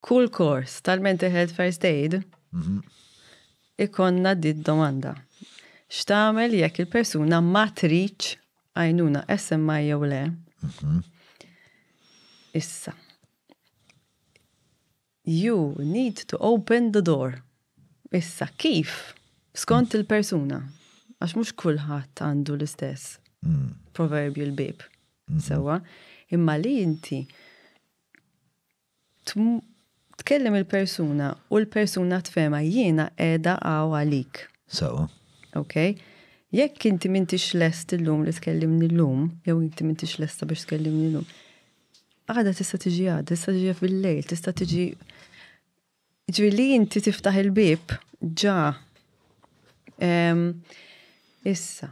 Kull kors tal-Mental Health First Aid ikonna di domanda. X'tagħmel jekk il-persuna ma tridx għajnuna SMI jew le? Mhm. Issa. You need to open the door. Issa, kif? Skont il-persuna. Għax mux kullħat għandu l-istess mm. proverbial bib. Mm-hmm. Sewa, imma li inti Tkellem il-persuna u l-persuna tfehemha, jiena qiegħda hawn għalik. Sewwa. Okej? Jekk inti m'intix lest illum li tkellimni llum, jew inti m'intix lesta biex tkellimni llum, għada tista' tiġi għada, tista' tiġi fil-lejl, tista' tiġi Ġifieri li inti tiftaħ il-bieb ġa. Issa,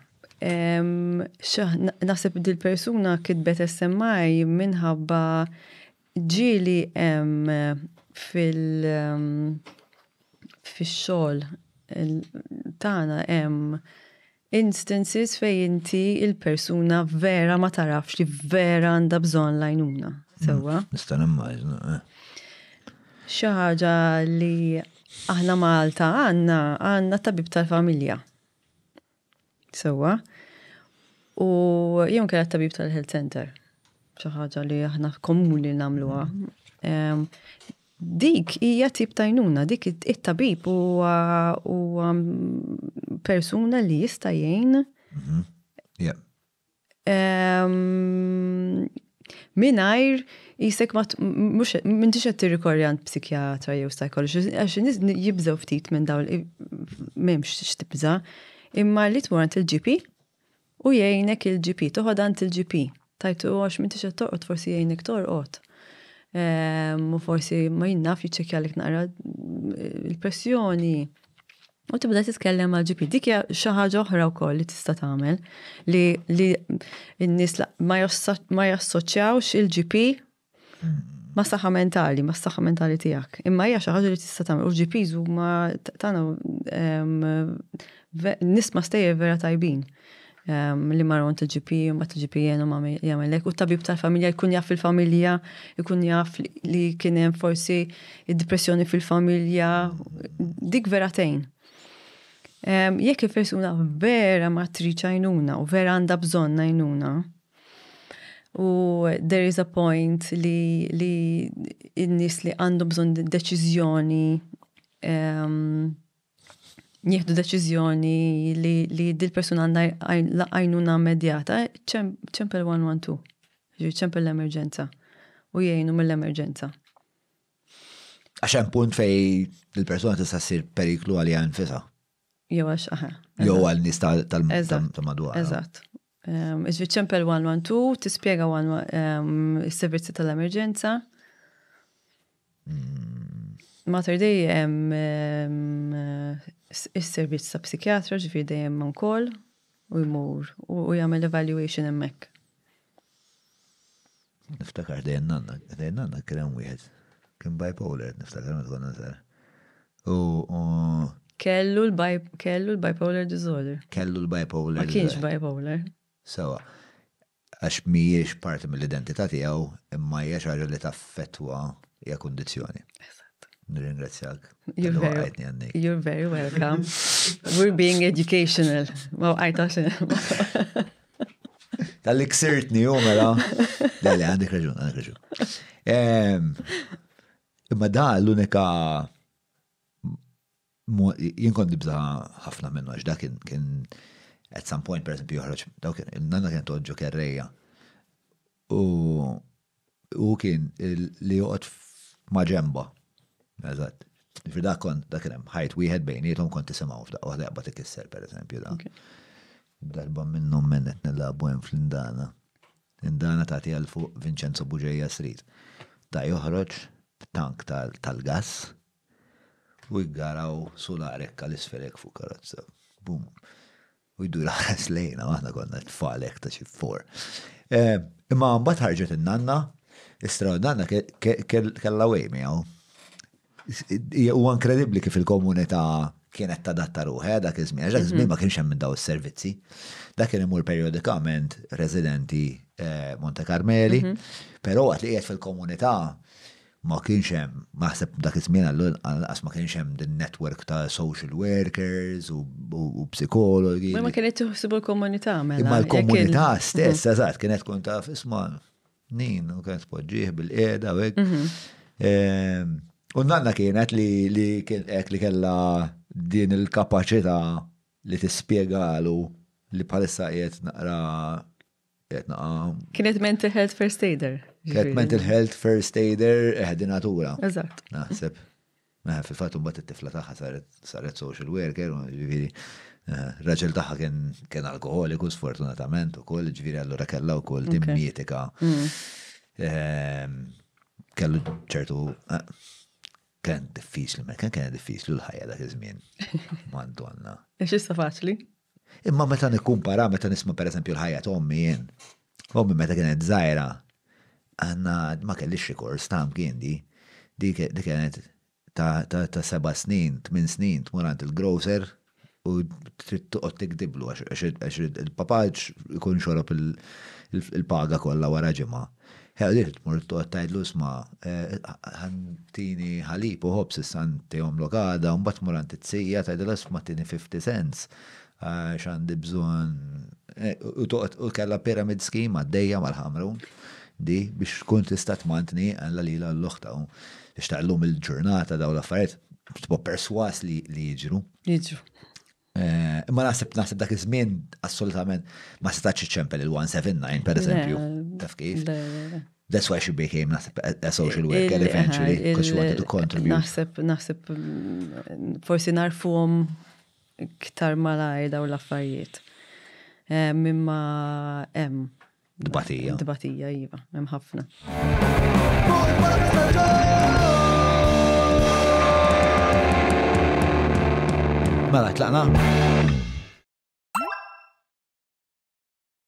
naħseb dil-persuna kitbet SMI minħabba ġieli hemm fil-xogħol tagħna hemm Instances fejn inti il-persuna vera ma tarafx li vera għandha bżonn l-għajnuna. Sewwa? Mm, nista' nimmaġna. Eh. Xi ħaġa li aħna Malta għandna għandna tabib tal-familja. Sewwa? U jew kien tabib tal-health center. Xi ħaġa li aħna komuni nagħmluha. Mm. Dik hija tip ta' jnuna, dik it-tabib huwa persuna li jista' jgħin. Mhm. Minajr jisek ma mux minn tixet tirrikorri għand psikjatra jew psychology, għax nis jibżaw ftit minn dawl, memx xtibza, imma li tmur għand il-GP, U jgħinek il-GP, toqgħod għand il-GP. Tajtu għax m'intix qed torqod forsi jgħinek torqod. Ehm, u forsi ma jinnaf jiċċekkjalik naqra il-pressjoni. U tibda titkellem għal GP. Dik hija xi ħaġa oħra wkoll li tista' tagħmel li li n-nies ma jassoċjawx il-GP ma' saħħa mentali, ma' saħħa mentali tiegħek. Imma hija xi ħaġa li tista' tagħmel. U GPs huma tagħna nisma' stejjer vera tajbin li marru għand il-GP, ma t-GP jenu ma jgħamillek, u tabib tal-familja jkun jaf il-familja, jkun jaf li kienem forsi id-depressjoni fil-familja, dik vera tejn. Jekk il-persuna vera ma triċajnuna u vera għanda bżon najnuna, U there is a point li li n-nies li għandhom bżonn deċiżjoni ehm, jieħdu deċiżjoni li, li dil-persuna għandha għajnuna medjata, ċempel 112, ġi ċempel l-emerġenza u jgħinu mill-emerġenza. Għaxem punt fej il-persona tista' ssir periklu għalija nfisa. Jew għax, aha. Jew għal nis tal-madwar. Eżatt. Ehm, Iġvi ċempel 112, tispiega ehm, il-servizzi tal-emerġenza. Hmm. Mater dej hemm ehm, is-servizz ta' psikjatra ġifieri dejjem man kol u jmur u jagħmel evaluation hemmhekk. Niftakar dejjem nanna, dejjem nanna kien hemm wieħed. Kien bipolar, niftakar meta konna żgħar. U Kellu l-bipolar disorder. Kellu l-bipolar. Ma kienx bipolar. Sewa. Għax mhijiex parti mill-identità tiegħu imma hija xi ħaġa li taffettwa hija kundizzjoni. Nirringrazzjak. You're very welcome. We're being educational. Ma waqajtax. Tal-li ksirtni, u mela. Dalli, għandek raġun, għandek raġun. Imma da l-unika jien kont nibza ħafna minnu għax da kien kien at some point per esempio joħroġ dawk nanna kien toġġo kerreja. U Hu kien li joqgħod maġenbha. Eżatt. Ġifieri dak kont dak hemm ħajt wieħed bejniethom kont tisimgħu f'daqqa waħda jaqbad ikisser pereżempju dan. Darba minnhom men qed nilagħbu hemm fl-indana. Indana tagħti għal fuq Vincenzo Buġeja Street. Ta' joħroġ tank tal-gass u jgaraw sular hekk għal isfel hekk fuq karozza. Bum. U jdur ħares lejna, aħna konna tfal hekk ta' xi for. Eh, imma mbagħad ħarġet in-nanna, istra nanna kellha wej miegħu. Huwa inkredibbli kif il-komunità kienet tadatta ruħe eh, dak iż-żmien, dak iż-żmien mhm. ma kienx hemm minn daw is-servizzi. Dak kien imur periodikament residenti eh, Monte Carmeli, mhm. però waqt li qiegħed fil-komunità Ma kienx hemm, naħseb dak iż-żmien lanqas ma kienx hemm din network ta' social workers u psikologi. Ma kienet tuħsibu l-komunità mela. Imma l-komunità stess, eżatt, kienet tkun taf isma' nin u kienet tpoġġih bil-qiegħda u hekk. Mhm. Ehm, u nanna kienet li li hekk li kellha din il-kapaċità li tispjegalu li bħalissa qiegħed naqra Qed naqa. Kienet mental health first aider. Kienet mental health first aider eħdinatura. Eh, Eżatt. Naħseb. Meħe fil-fatt mbagħad it-tifla tagħha saret saret social worker, ġifieri eh, raġel tagħha kien kien alkoholiku sfortunatament ukoll, ġifieri allura kellha wkoll din mietika. Mm. Ehm, kellu ċertu eh, kien diffiċli, ma kien kien diffiċli l-ħajja dak iż-żmien. Madonna. Ex issa faċli? Imma meta nikkumpara, meta nisma' pereżempju l-ħajja ta' ommi jien, ommi meta kienet żgħira, għandna ma kellix rikors ta' mkiendi, dik kienet ta' seba' snin, tmien snin tmur għand il-grocer u trid toqgħod tigdiblu għax il-papà ikun xorob il-paga kollha wara ġimgħa. Ħelliet tmur toqgħod tgħidlu isma' ħattini ħalib u ħobż issa ntihomlok għada u mbagħad tmur għand it-tija tgħidilha isma' tini fifty cents għax għandi bżonn u toqgħod u kellha pyramid scheme għaddejja mal-ħamru di biex tkun tista' tmantni għandha lilha l-oħta u biex taqlhom il-ġurnata dawn l-affarijiet tibqa' perswas li jiġru. Jiġru. Eh, imma naħseb naħseb dak iż-żmien assolutament ma setax iċċempel il-179 per eżempju. Taf kif? That's why she became naħseb a social worker eventually because she wanted to contribute. Naħseb naħseb mm, forsi narfuhom iktar malajr daw l-affarijiet. Eh, mimma hemm Dbatija. Dbatija, iva, hemm ħafna. Mela, tlaqna?